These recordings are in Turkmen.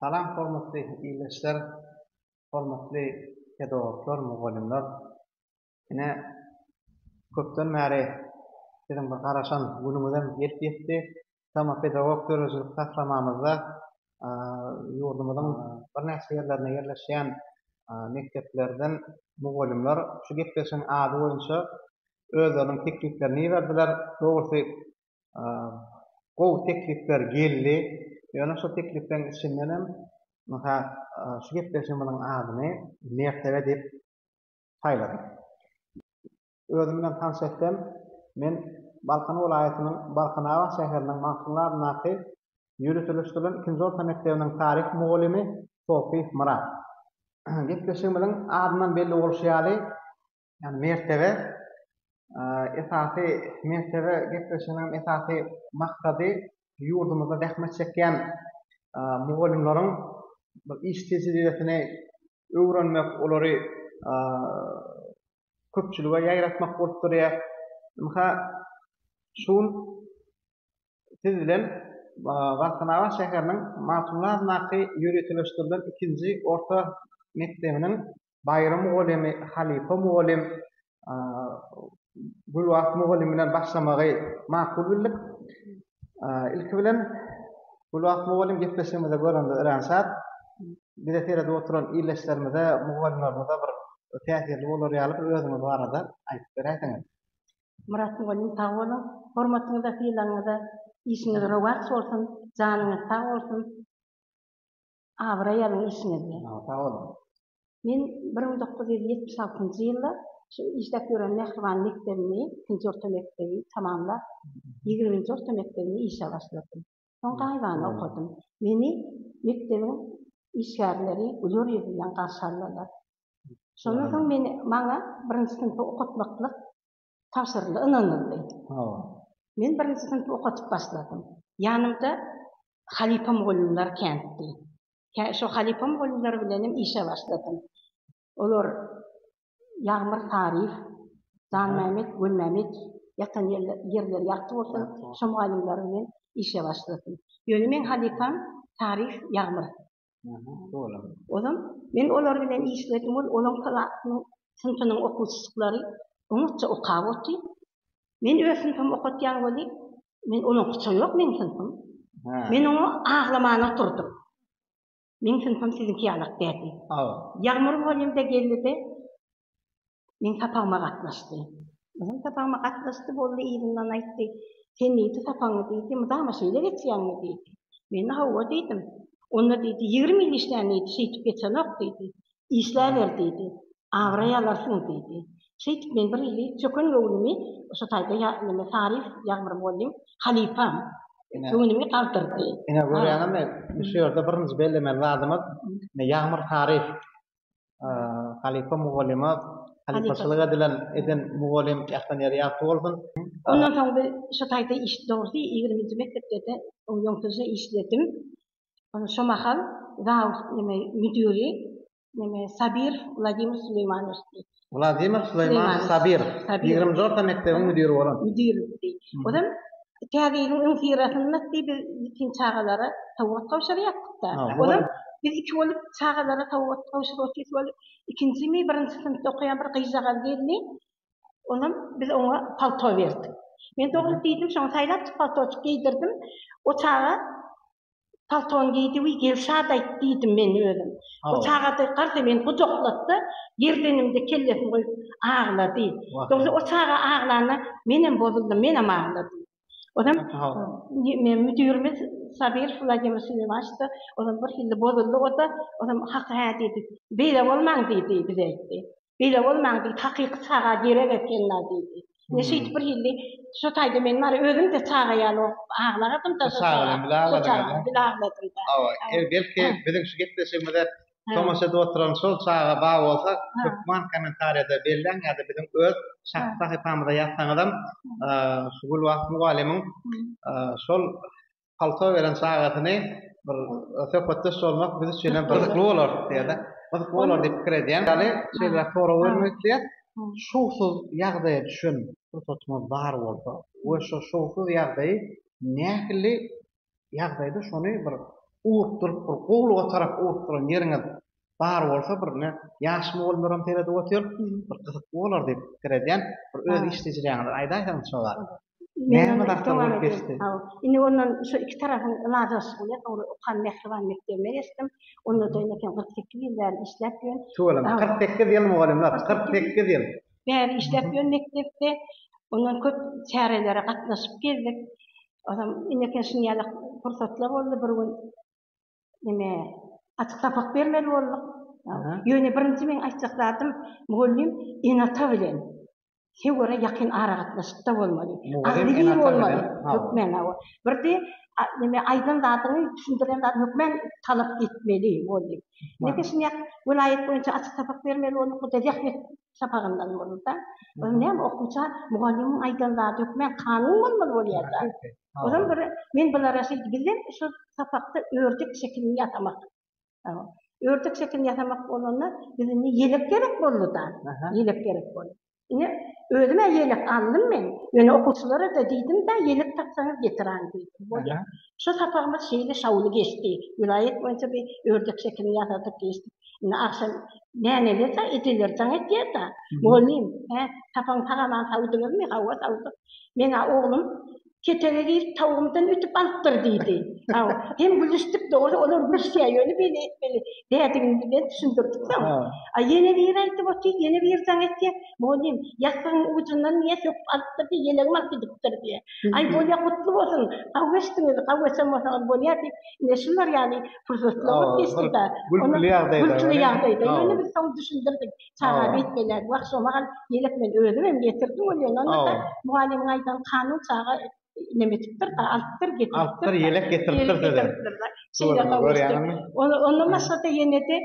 Salam hormatly ildeşler, hormatly pedagoglar, mugallymlar. Ine, köpden bäri siziň bir garaşan günüňizem gelip ýetdi. Şeýle-de pedagog döredijilik taslamamyzda ýurdumyzyň birnäçe ýerlerinde ýerleşýän mekdeplerden mugallymlar şu gepleşigiň ady boýunça özleriniň tekliplerini iberdiler. Dogrusy, gowy teklipler geldi. Ýöne şol teklipleriň içinden hem, mysal, şu gepleşigimiziň adyny Mertebe diýip saýladyk. Özüm bilen tanyş etsem, men Balkan welaýatynyň Balkanabat şäheriniň Magtymguly adyndaky ýöriteleşdirilen ikinji orta mekdebiniň taryh mugallymy Sofiýew Myrat. Gepleşigimiziň adyndan belli bolşy ýaly, ýagny mertebe, esasy mertebe gepleşiginiň esasy maksady ýurdumyzda zähmet çekýän mugallymlaryň iş tejribesini öwrenmek, olary köpçülige ýaýratmak bolup durýar. Ynha, şu gün siz bilen Galkanabat şäheriniň Matumly adyndaky ýöriteleşdirilen ikinji orta mekdebiniň baýry mugallymy, halypa mugallym Gülbagt mugallym bilen başlamagy makul bildik. Ilki bilen Gülbagt mugallym gepleşigimizi görende örän şat. Bize seredip oturan ildeşlerimize, mugallymlarymyza bir täsirli bolar ýaly bir özüňiz barada aýdyp beräýseňiz. Myrat mugallym sag boluň. Hormatyňyza, sylagyňyza, işiňiz rowaç bolsun, janyňyz sag bolsun. Abraý alyň işiňizde. Sag boluň. Men bir müň dokuz ýüz ýetmiş altynjy ýylda şu işläp ýören mähriban mekdebimi, ikinji orta mekdebi tamamlap, ýigriminji orta mekdebini işe başladym. Soň gaýybana okadym. Meni mekdebiň işgärleri güler ýüz bilen garşy aldylar. Şondan soň meni maňa birinji synpy okatmaklyk tabşyryldy, ynanyldy. Hawa. Men birinji synpy okadyp başladym. Ýanymda halypa mugallymlar kändi. Kä, şo halypa mugallymlar bilenem işe başladym. Olar Ýagmyr Saryýew, Janmämmet Gulmämmedow, ýatan ýerler, ýerleri ýagty bolsun, şo mugallymlar bilen işe başladym. Ýöne meň halypam Saryýew Ýagmyr. Ozan men olar bilen işledim, ol olaň klasynyň, synpynyň okuwçyjyklary oňatja okap otdy. Men öz synpymy okatýan weli, men olaňkyça ýok meň synpym. Men oňa aglaman oturdym. Meň synpym siziňki ýalak däldi. Ýagmyr bolýumda geldi-de, Meň sapagyma gatnaşdy. Meň sapagyma gatnaşdy boldy, yzyndan aýtdy. Sen nji sapagyňy diýdi, mydama şeýle geçýäňmi diýdi. Men-de hawa diýdim. Onda diýdi, ýigrimi ýyl işlän diýdi, şeýdip geçenok diýdi. Işläber diýdi. Abraý alarsyň diýdi. Şeýdip men bir ýyly çöken göwnümi şu taýda ýa neme taryf ýagmyr mugallym halypam göwnümi galdyrdy. Ine görýäňizmi, şu ýerde birinji bellemeli zadymyz, ine ýagmyr taryf halypa mugallyma halypaçylyk edilen eden mugallym Ähten ýeri ýagty bolsun. Ondan soň bir şu taýda iş dogrusy ýigriminji mekdepde-de ýoňsuzja işledim. Şo mahal zaud neme müdüri neme Sabirow Wladimir Suleýmanowiçdi. Wladimir Suleýmanow Sabirow, ýigrimi dört da mekdebiň müdiri bolan. Müdiridi. Ozal Täze ýylyň öňüsyrasynda diý biz ýetim çagalara sowgat gowşurýardyk-da. Ozal biz iki bolup çagalara sowgat gowşuryp otyrys. Ol ikinjimi, birinji synpda okaýan bir gyzjagaz geldi. Onam biz oňa palto berdik. Men dogrup diýdim, şoňa saýlapjyk paltoçyk geýdirdim. O çaga paltony geýdi we gel şat aýt diýdim men özüm. Bu çagajyk garsa meni gujaklatdy, girdenimde kellesini goýup aglady. Dogry o çaga aglanda menem bozuldym, menem agladym. Ozan müdirimiz Sabirow Wladimir Süleymaçda ozan birhili bozuldy o-da, ozan hak hä diýdi. Beýle bolmaň diýdi, bize aýtdy. Beýle bolmaň diýip, hakyky çaga gerek ekenler diýdi. Indi şeýdip bir hilli şo taýda men bar, özüm-de çaga ýaly bolup aglagadym-da şo çaga bilen bil agladym-da. Hawa, belki biziň şu gepleşigimize tomaşa edip oturan şol çaga bar bolsa, hökman kommentariýada belläň ýa-da biziň öz şahsy sahypamyza ýazsaňyzam, şu Gülbagt mugallymyň şol palto beren çagasyny bir söhbetdeş bolmak biz üçin hem gyzykly bolar diýýär-de. Gyzykly bolar diýip pikir edýän. Ýaly şeýleräk sorag bermek isleýär. Şowsuz ýagdaýa düşen pursatyňyz bar bolsa we şo şowsuz ýagdaýy nähili ýagdaýda şony bir ugrukdyryp bir gowulyga tarap ugrukdyran ýeriňiz bar bolsa bir ine ýaş mugallymlaram seredip otyr bir gyzykly bolar diýip pikir edýän bir öz iş tejribeňizi aýdaýsaňyz şo barada näme zatlar bolup geçdi indi ondan şo iki tarapyň ylalaşygy bilen owre okan mähriban mekdebine geçdim onda da ine kyrk sekiz ýyl bäri işläp ýörün tüweleme kyrk sekiz ýyl mugallymlar kyrk sekiz ýyl bäri işläp ýörün mekdepde ondan köp çärelere gatnaşyp gezdik onsoň ine şunuň ýaly pursatlar boldy bir gün ine açyk sapak bermeli bolduk. Ýöne birinji meň aýtjak zadym, mugallym ene-ata bilen töwere ýakyn aragatnaşykda bolmaly. Agzybir bolmaly. Hökman, hawa. Birde neme aýdan zadyňy, düşündiren zadyňy hökman talap etmeli mugallym. Nede şuny ýa welaýat boýunça açyk sapak bermeli bolduk, bu-da zähmet sapagyndan boldy-da. Ol näme okuwça mugallymyň aýdan zady hökman kanun bolmaly bolýar-da. Ozal bir men bulara şeýdip bizem şu sapakda ördek şekilini ýasamak. Ördek şekilini ýasamak bolanda biz indi ýelek gerek boldy-da. Ýelek gerek boldy. Ine özüm-ä ýelek aldym men. Ýöne okuwçylara-da diýdim-de ýelek tapsaňyz getiraň diýdim. Bolýa. Şu sapagymyz şeýle şowly geçdi. Welaýat boýunça bir ördek şekilini ýasadyk geçdik. Indi agşam näneler-de ejeler jaň etýär-de. Mugallym, hä, sapagyňy tagaman sowduňyzmy? Hawa sowduk. Meň-ä oglum ketege girip tawugymdan ütüp alypdyr diýdi. Haw, hem gülüşdik dogry, olar gülüşýär, ýöne beýle etmeli dädigini birden düşündirdik soň. A ýene biri aýdyp otyr, ýene biri jaň etýär, Mugallym, ýassygyň ujundan diýýär, söküp alypdyr diýýär, ýelegiňi alyp gidipdir diýýär. Aý, bolýar, gutly bolsun, haw geçdiňiz, haw geçen bolsaňyz bolýar diýip, ine şular ýaly pursatlar bolup geçdi-de. Gülküli ýagdaýda. Gülküli ýagdaýda. Ýöne biz soň düşündirdik. Çaga beýtgelýär. Wah, şo mahal Ýelek men özüm hem getirdim welin, onda-da mugallymyň aýdan kanyň çaga neme etipdir, alypdyr, getiripdir. Alypdyr, ýelek getiripdir size. Şeýle gowuşdy. Ondan başga-da ýene-de,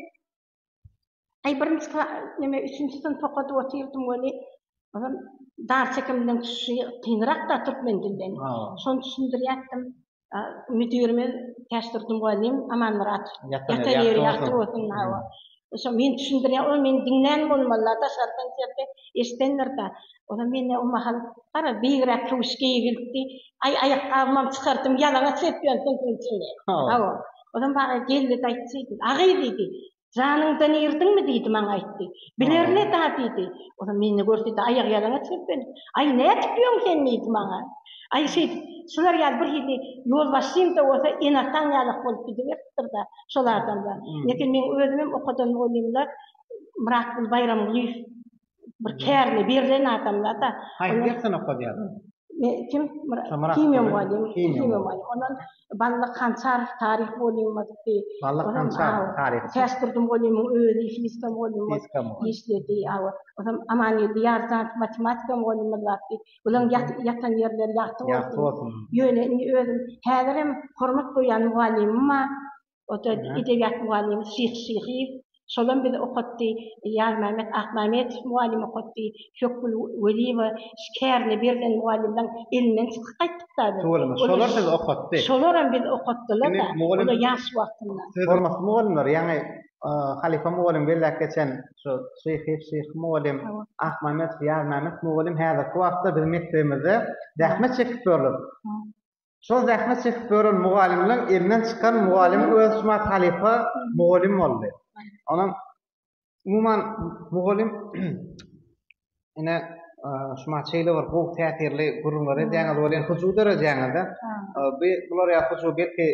aý, birinji kla, neme, üçünji synpy okadyp otyrdym welin, ozal dar çekimden çykyşy kynrak-da türkmen dilden. Şony düşündirýärdim. müdirimiz Täçdurdy mugallym Amanmyrat ýatan ýeri ýagty bolsun hawa şo men düşündirýän ol meni diňlän bolmalylar daşardan sesde eşidendirda onam mende o mahal garaz biygräk köwüş geýgilipdi aý aýakgabymam çykardym ýalaňaç seslendim diýdi hawa onam maňa geldi-de aýtdy şeýdip agy diýdi Janyňdan irdiňmi diýdi, maňa aýtdy. Bilerine-dä diýdi. Onam meni görse-de aýakýalaňaç seplenip, Aý, nädip ýöň sen diýdi maňa. Aý, şeýdip, şular ýaly birhili ýolbaşçyň-da bolsa ene-ataň ýalak bolup gidiberipdir-de şol adamlar. Ýeke meň özümem okadan mugallymlar Myratguly Baýramgulyýew Bir kärine berilen adamlar da. Haýsy dersden okadýar? Me, kim? Myra, Şamyrat. Himiýa mugallimi, Himiýa himiýa mugallimi. mugallimi. Ondan Bally Kançarow taryh mugallymymyzdy. Bally Onam, Kançarow, aw, taryhçy. Täçdurdy mugallymyň özi fizika mugallymymyz Fizika mugallym. işledi, aw. Onam Amangeldi Ýarzanow matematika mugallymymyz bardy. Bularyň ýat, ýatan ýerleri ýagty Ýagty bolsun. bolsun. Ýöne indi özüm häzirem hormat goýýan mugallymyma Ota edebiýat mugallymymyz Şyh Şyhyýew. Şolam bizi okatdy. Ýazmämmet Akmämmedow mugallym okatdy. Pökgül Weliýewa kärine berlen mugallymlaň elinden çykyp gaýtdyk-da biz. Tüweleme, şolar sizi okatdy. Şolaram bizi okatdylar-da. Olar ýaş wagtynda. Hormatly mugallymlar, ýaňy halypa mugallym belläp geçen şu Şyhyýew Şyhy mugallym, Akmämmedow Ýazmämmet mugallym häzirki wagtda biziň mekdebimizde zähmet çekip ýörler. Şol zähmet çekip gören mugallymlaň elinden çykan mugallym öz şuma halypa mugallym boldy. Onuň umuman mugallym ine şuma çeýle bir gowy täsirli gürrüňler edýäňiz welin hyjuw döredýäňizde. Bu bular ýa hyjuw belki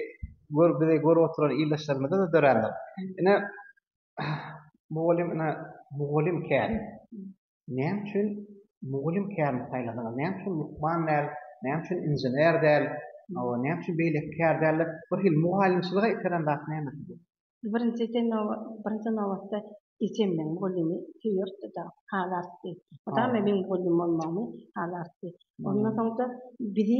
gör bizi görüp oturan ildeşlerimize-de dörändir. Ine mugallym ine mugallym kän. Näme üçin mugallym kärini saýladyňyz, näme üçin lukman däl, näme üçin inžener däl, näme üçin beýleki kär däl diýip, birhili mugallymçylyga iteren zat nämesi bu? Birinji birinji nobatda ejem meniň mugallymy söýerdi-de, haly artdy. O da meniň mugallym bolmagymy haly artdy. Ondan soň-da bizi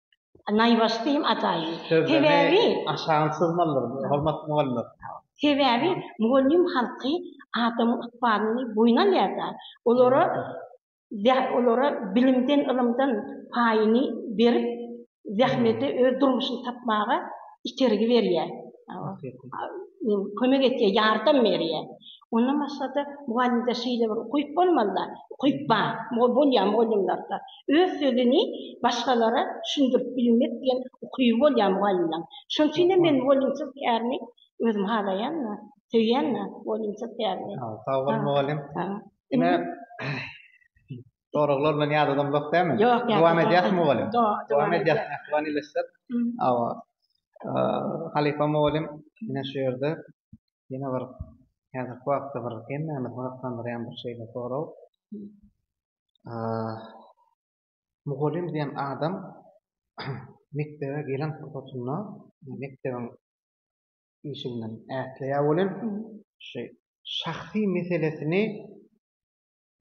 Naýbaşy diýiň ataýy. Sebäbi aşagyny syzmalydyr, hormatly mugallymlar. Sebäbi mugallym halky adamyň ykbalyny boýun alýar-da, olara olara bilimden, ylymdan paýyny berip, zähmete öz durmuşyny tapmaga itergi berýär. Kömek etýär, ýardam berýär. Ondan başga-da, mugallymda şeýle bir ukyp bolmaly-da, ukyp bar, bolýar mugallymlarda. Öz sözüni başgalara düşündirip bilmek diýen ukyby bolýar mugallymlaryň. Şonuň üçin hem men mugallymçylyk kärini özüm halaýan-da, söýýän-de mugallymçylyk kärini. Sag bol mugallym. Ine, Soraglar bilen ýadadan uzak dälmi? Ýok, ýadadan Dowam edýäs mugallym. Dowam edýäs. Ähwan ileşsek. Hawa. Halypa mugallym ine şu ýerde ýene bir häzirki wagtda bir hemmämizi gyzyklandyrýan bir şeýle sorag. Mugallym diýen adam mekdebe gelen pursatynda mekdebiň işi bilen ätleýär welin, şeý şahsy meselesini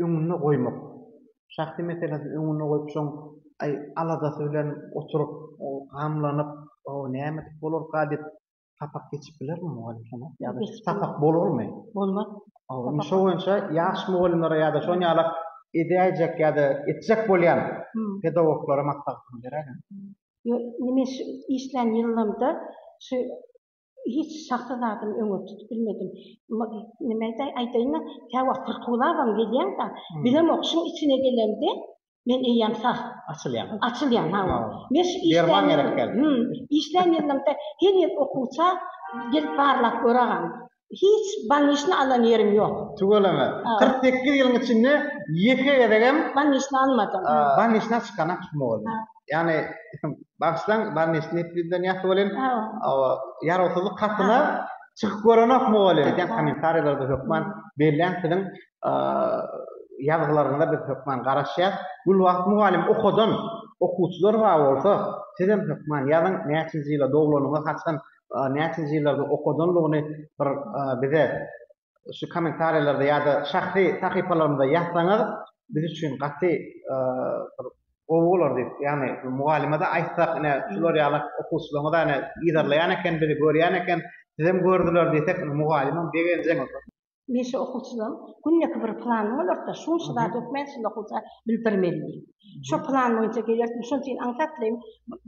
öňünde goýmak. Şahsy meselesini öňünde goýup şoň aý aladasy bilen oturyp gamlanyp nämedik bolarka diýip sapak geçip bilermi mugallym şony? Ýa-da sapak bolarmy? Bolmaz. Indi şo boýunça ýaş mugallymlara ýa-da şon ýala edäýjek ýa-da etjek bolýan pedagoglara maslahatyňy beräýiň. Ýok, ine şu işlän ýylymda şu Hiç şahsy zadyny öňe tutup bilmedim. Nimeýdi, aýdaýyn-da, käwagt pyrkylabam gelýän-dä, bilemok, şuň içine gelemde, men eýýäm sag. Açylýaň. Açylýan, hawa. Men şu işlän. Derman gerek geldi. Hü, işlän ýylymda her ýyl okuwça gelip barlap göragam. Hiç balnisni alan ýerim ýok. Tüweleme. Kyrk sekiz ýylyň içinde ýeke gezegem. Balnisni almadym. Balnisden çykanam tutmagy. Yani bagşylaň bar neşe nepliden ýasy bolin awa ýarawsyzlyk hatyna çykyp görenokmy bolin edýän kommentariýalarda hökman belläň siziň ýazgylaryňyza biz hökman garaşýas gül wagt mugallym okadan okuwçylar bar bolsa sizem hökman ýazyň näçinji ýyla doglanyňyz haçan näçinji ýyllarda okadanlygyny bir bize şu kommentariýalarda ýa-da şahsy sahypalarymyza ýazsaňyz, biz üçin gaty bir gowy bolar diýip, ýagny mugallyma-da aýtsak, ine, şular ýaly okuwçylaryňyz-a ine yzarlaýan eken, bizi görýän eken, sizem gördüler diýsek, indi mugallymam begenjek. Men şu okuwçylaryň günleki bir plany bolar-da, şunça zat hökmän şunda okuwça bildirmeli diýip. Şo plan boýunça gelerdim, şonuň üçin aňsatlaýyn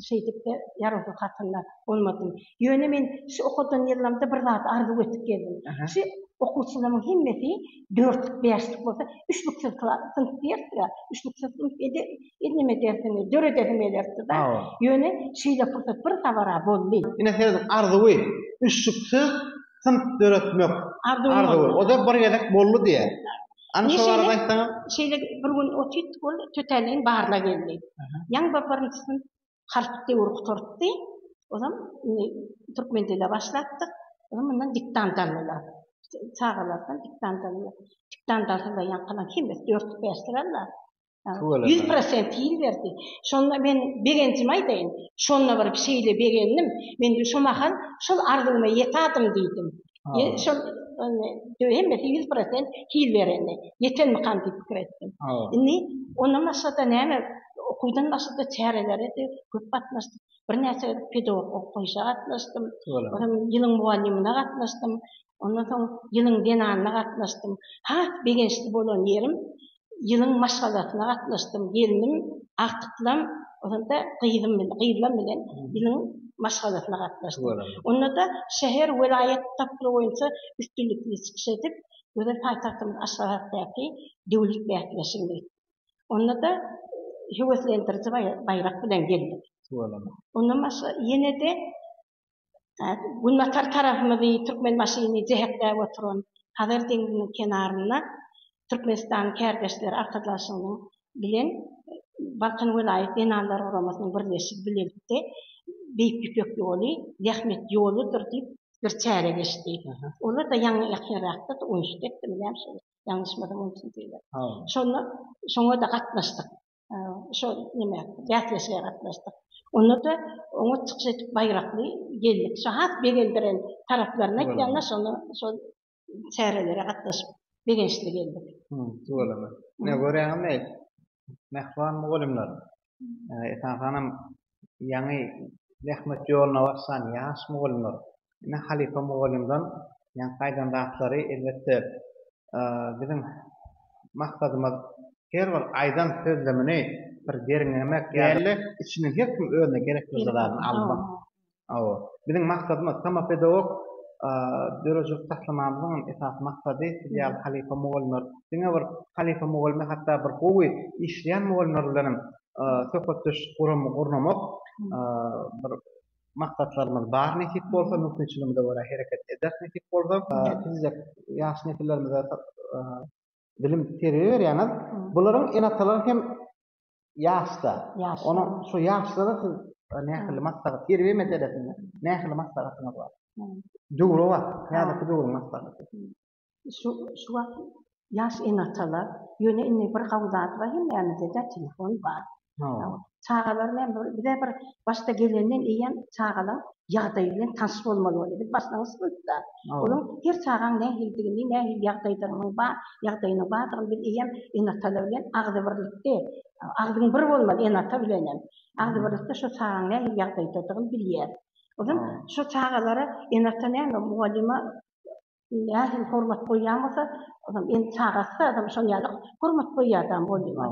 şeýdip-de ýarawsyz hatynda bolmadym. Ýöne men şu okadan ýyllarymda bir zat arzuw edip geldim. Şu okuwçylarymyň hemmesi dörtlük, bäşlik bolsa, üçlüksiz klas, synp diýersiň-ä, üçlüksiz synp indi neme dersini döredesim gelerdi-de. Ýöne şeýle pursat bir sabar-a boldy. Ine siziň arzuwy, üçlüksiz synp döretmek arzuwy. O-da bir gezek boldy diýýä. Ine şeýle, şeýle bir gün otyrdyk, ol tötänleýin baryna geldi. Ýaňy bir birinjisini harp döwri gutartdy. Ozam indi türkmen dile başlapdyk. Ozam mundan diktant aldylar. Çagalardan diktant aldylar. Diktant alsalar ýaňkylaryň hemmesi dörtlük-bäşlik aldylar. Tüweleme. Ýüz prosent hil berdi. Şonda men begenjimi aýdaýyn. Şonda bir şeýle begendim. Men şo mahal şol arzuwyma ýetadym diýdim. Ýe, şol hemmesi ýüz prosent hil bereni. Ýetenmikam diýip pikir etdim. Indi ondan başga-da näme, okuwdan başga-da çärelere-de köp gatnaşdym. Birnäçe pedagog okgaýyşa gatnaşdym. Tüweleme. Onam ýylyň mugallymyna gatnaşdym. Ondan soň ýylyň zenanyna gatnaşdym. Has begençli bolan ýerim, ýylyň maşgalasyna gatnaşdym. Gelnim Agtyklam, onda gyzym bilen, gyzlam bilen ýylyň maşgalasyna gatnaşdym. Onda-da şäher, welaýat tapgyry boýunça üstünlikli çykyş edip, gözel paýtagtymyz Aşgabatdaky döwlet bäsleşigine gitdik. Onda-da höweslendiriji baýrak bilen geldik. Ondan başga ýene-de Günbatar tarapymyzy Türkmenbaşyny jähekläp oturan Hazar deňziniň kenarynda Türkmenistanyň Kärdeşleri arkadaşlygynyň bilen Balkan welaýat zenanlar guramasynyň birleşigi bilelikde Beýik Ýüpek ýoly zähmet ýoludyr diýip, bir çäre geçdi. Olar-da ýaňy ýakynrakda Uýşdekdimi, näme şol, ýalňyşmasam, Uýşdekdi. Şonda şoňa-da gatnaşdyk. şo nime bäsleşige gatnaşdyk. Onda-da oňa çykyş edip baýrakly geldik. Şo has begendiren taraplaryny aýtýanda şony şo çärelere gatnaşyp begençli geldik. Tüweleme. Ine görýäňizmi, mähriban mugallymlar. Esasanam ýaňy zähmet ýoluna başlan ýaş mugallymlar. Ine, halypa mugallymdan ýaňky gaýdan zatlary, elbetde, biziň maksadymyz her bir aýdan sözlemini bir derňemek däl-de, içinden her kim özüne gerek bir zadyny almak. Hawa, biziň maksadymyz, Tama pedagog döredijilik taslamamyzyň hem esasy maksady siz ýaly halypa mugallymlar. Diňe bir halypa mugallymy, hatda bir gowy işleýän mugallymlar bilen hem söhbetdeşlik guramy gurnamak bir maksatlarymyz bar nesip bolsa mümkinçiligimize görä hereket ederis nesip bolsa siz-de ýaş nesillerimize bilim terbiýe berýäňiz bularyň ene-atalary hem ýaşda onuň şu ýaşlara siz nähili maslahat terbiýe meselesinde nähili maslahatyňyz bar döwrebap häzirki döwrüň maslahaty. Şu şu wagt ýaş ene-atalar, ýöne indi bir gawy zat bar, hemmämizde-de telefon bar. Çagalar bilen bir, bize bir başda gelenden eýýäm çagalaň ýagdaýy bilen tanyş bolmaly boldy. Biz başlangyç bolupda. Olaň her çagaň nähilidigini, nähili ýagdaýdagynyň bar, ýagdaýynyň bardygyny biz eýýäm ene-atalar bilen agzybirlikde, agzyň bir bolmaly ene-ata bilenem. Agzybirlikde şo çagaň nähili ýagdaýdadygyny bilýäris. Onsoň şo çagalara ene-ata näme mugallyma Diýýär, hem hormat goýýan bolsa, onam indi çagasy-da adam şoň ýaly hormat goýýardam bolýa.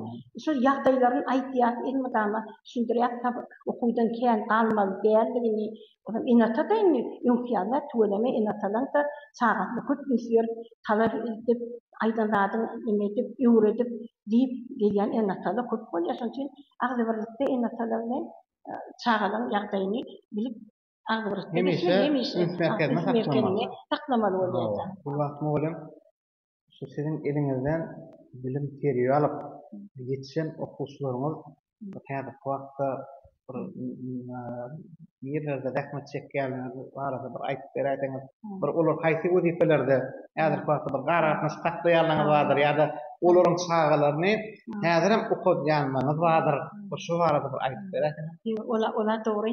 Şol ýagdaýlaryn aýdýas, elmydama düşündirýäs, sab okuwdan kän galmaly däldigini. Onam ene-ata-da indi öňki ýaly däl, tüweleme ene-atalaryň-da çagasyna köp üns berip, talap edip, aýdan zadyň neme edip, öwredip, diýip gelýän ene-atalar köp bolýar. Şonuň üçin agzybirlikde ene-atalar bilen çagalaryň ýagdaýyny bilip, hemişe üns merkezinde saklamaly bolýar. Bu wagt mugallym şu siziň eliňizden bilim terbiýe alyp ýetişen okuwçylaryňyz häzirki wagtda bir nirelerde zähmet çekýänligi barada bir aýdyp beräýseňiz, bir olar haýsy wezipelerde häzirki wagtda bir aragatnaşyk saklaýanlaryňyz bardyr ýa-da olaryň çagalaryny häzirem okadýanlaryňyz bardyr. Bir şo barada bir aýdyp beräýseňiz. Olar dogry.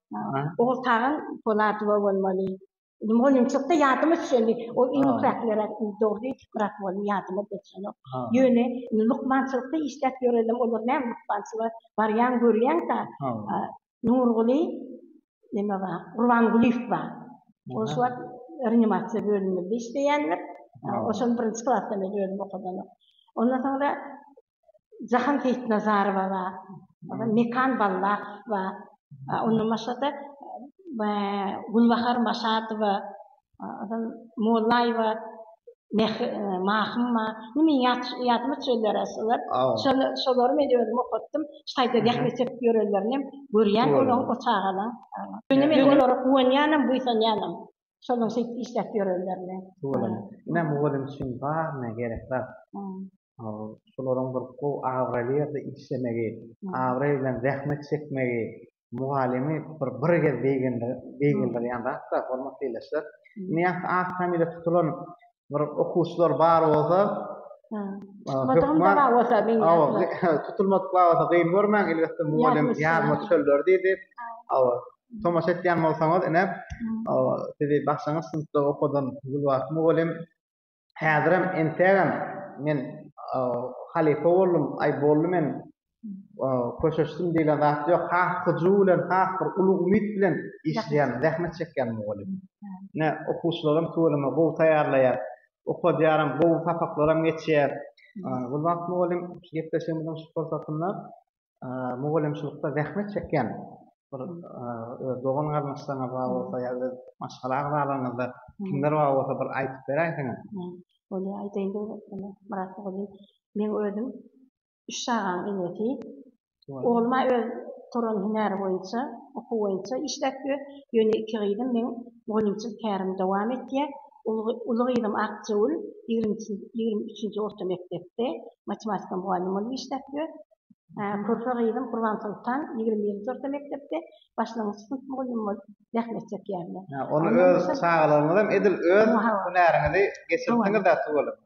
Ogul tagan Polatowa bolmaly. Indi mugallymçylykda ýadyma düşeni, ol iň ýüpekler dogry brat boldy, ýadyma geçenok. Ýöne indi lukmançylykda işläp ýörelem, olar näme lukmançylyga barýan görýäň-dä. Nurguly neme bar, Gurbangulyýew bar. Ol şu wagt reanimasiýa bölüminde işleýändir. Ol şony birinji klasdan bäri özüm okadanok. Ondan soňra Jahan Seýitnazarowa bar, Mekan Ballakow bar, ondan başga-da Gülbahar Maşadowa, Mollaýewa Mahym bar. Indi meniň ýadyma düşenler-ä şular. Şolary men özüm okatdym. Şaýda zähmet çekip ýörenlerinem görýän olaryň, o çagalaryň. Ýöne men olara guwanýanam, buýsanýanam. Şonuň şeýdip işläp ýörenlerini. Tuweleme. Ine mugallym üçin baryna gerek zat. Şolaryň bir gowy abraýly ýerde işlemegi, abraý bilen zähmet çekmegi mugallymy bir bir gez beýgeldirýän zat-da, hormatly ildeşler. Ine ýa-da ak familiýa tutulan bir okuwçylar bar bolsa, Tutulmadygyny hökman- dara bolsa meň Awa, ýaşyma. ge- tutulmadyk bar bolsa gyn görmäň, elbetde mugallym Ýaryma ýaryma düşer. düşerler diýdi. Awa, tomaşa etýän bolsaňyz ine, awa, sizi bagşaňyz synpda okadan Gülbagt mugallym häzirem entägem men, awa, halypa boldum, aý boldy men köşeşsin diýlen zat ýok. Has hyjuw bilen, has bir uly umyt bilen işleýän, zähmet çekýän mugallym. Ine, okuwçylaram tüweleme gowy taýýarlaýar. Okadýaram, gowy sapaklaram geçýär. Gulbagt mugallym şu gepleşigimiziň şu pursatynda mugallymçylykda zähmet çekýän bir öz dogan-garyndaşlaryňyz bar bolsa ýa öz maşgala agzalaryňyzda kimler bar bolsa bir aýdyp beräýseňiz. Bolýar, aýdaýyn döwlet mugallym. Men özüm üç çagaň enesi. Ogluma öz turan hünäri boýunça, okuw boýunça işläp ýör. Ýöne iki gyzym meň mugallymçylyk kärimi dowam etýär. Uly gyzym Akjewül ýigrimi üçünji orta mekdepde matematika mugallym bolup işläp ýör. Körpe gyzym Gurbansoltan ýigrimi birinji orta mekdepde başlangyç synp mugallymy bolup zähmet çekýärler. Ony öz çagalaryňyzam edil öz hünäriňizi geçiripsiňiz-ä tüweleme.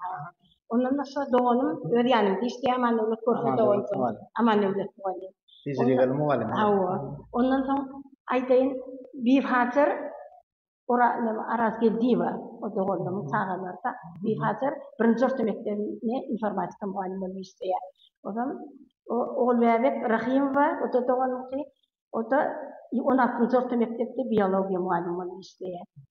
Ondan başga doganym öz ýanymda işleýär, Amandöwlet Görpe dogan. Amandöwlet mugallym. Tejribeli mugallym. Hawa. Ondan soň aýdaýyn, Bifazir Orazgeldiýewa, o doganymyň çagalary-da Bifazir birinji orta mekdebinde informatika mugallym bolup işleýär. Ozal Ogulbäbek Rahymowa, o-da doganymky, o-da on altynjy orta mekdepde biologiýa mugallymy bolup işleýär.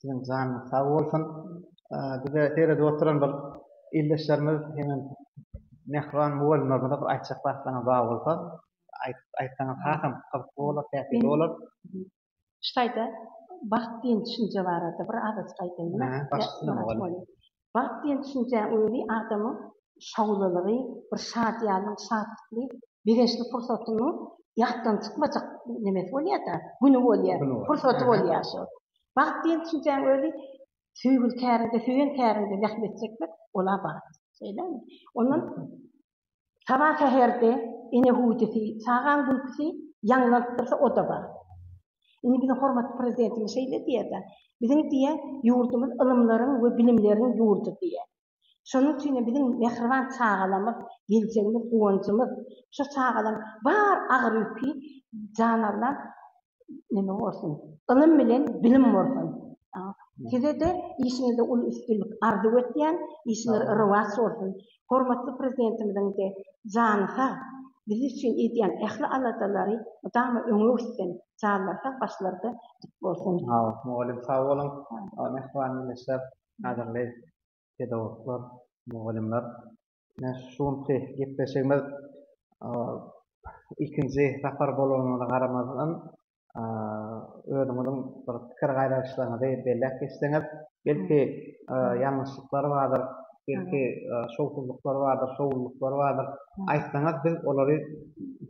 Siziň janyňyz sag bolsun. Bize seredip oturan bir ildeşlerimiz hemem mähriban mugallymlarymyza bir aýtjak zatlaryňyz bar bolsa aýdyp aýtsaňyz hasam gyzykly bolar, täsirli bolar. Şu taýda bagt diýen düşünje barada bir azajyk aýdaýyn. Başga näme bolýar? Bagt diýen düşünjäň özi adamyň şowlulygy, bir şadyýanlygyň, şatlykly, begençli pursatynyň ýatdan çykmajak nemesi bolýar-da, güni bolýar, pursaty bolýar şo. Bagt diýen düşünjäň özi söýgüli käriňde, söýen käriňde zähmet çekmek, ol-a bagt. Şeýlemi? Ondan Saba säherde ene hüwdüsi, çagaň gülküsi ýaňlanyp dursa, o-da bar. Indi biziň hormatly Prezidentimiz şeýle diýýär-de, Biziň diýýär, ýurdumyz ylymlaryň we bilimleriň ýurdy diýýär. Şonuň üçin hem biziň mähriban çagalarymyz, geljegimiz, guwanjymyz. Şo çagalaryň bar agyr ýüki janalnan neme bolsun, ylym bilen bilim bolsun. Size-de işiňizde uly üstünlik arzuw etýän, işiňiz rowaç bolsun. Hormatly Prezidentimiziň-de jany sag, biz üçin edýän ähli aladalary mydama öňe gitsin, janlary sag, başlary-da dik bolsun. Mugallym sag boluň. Mähriban ildeşler, gadyrly pedagoglar, mugallymlar. Ine şu günki gepleşigimiz ikinji sapar bolanyna garamazdan özüňiziň bir pikir gaýralyşlaryňyzy belläp geçseňiz, belki ýalňyşlyklar bardyr, belki şowsuzlyklar bardyr, şowlulyklar bardyr, aýtsaňyz biz olary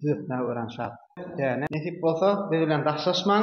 düzetmäge örän şat. Nesip bolsa biz bilen daşlaşmaň.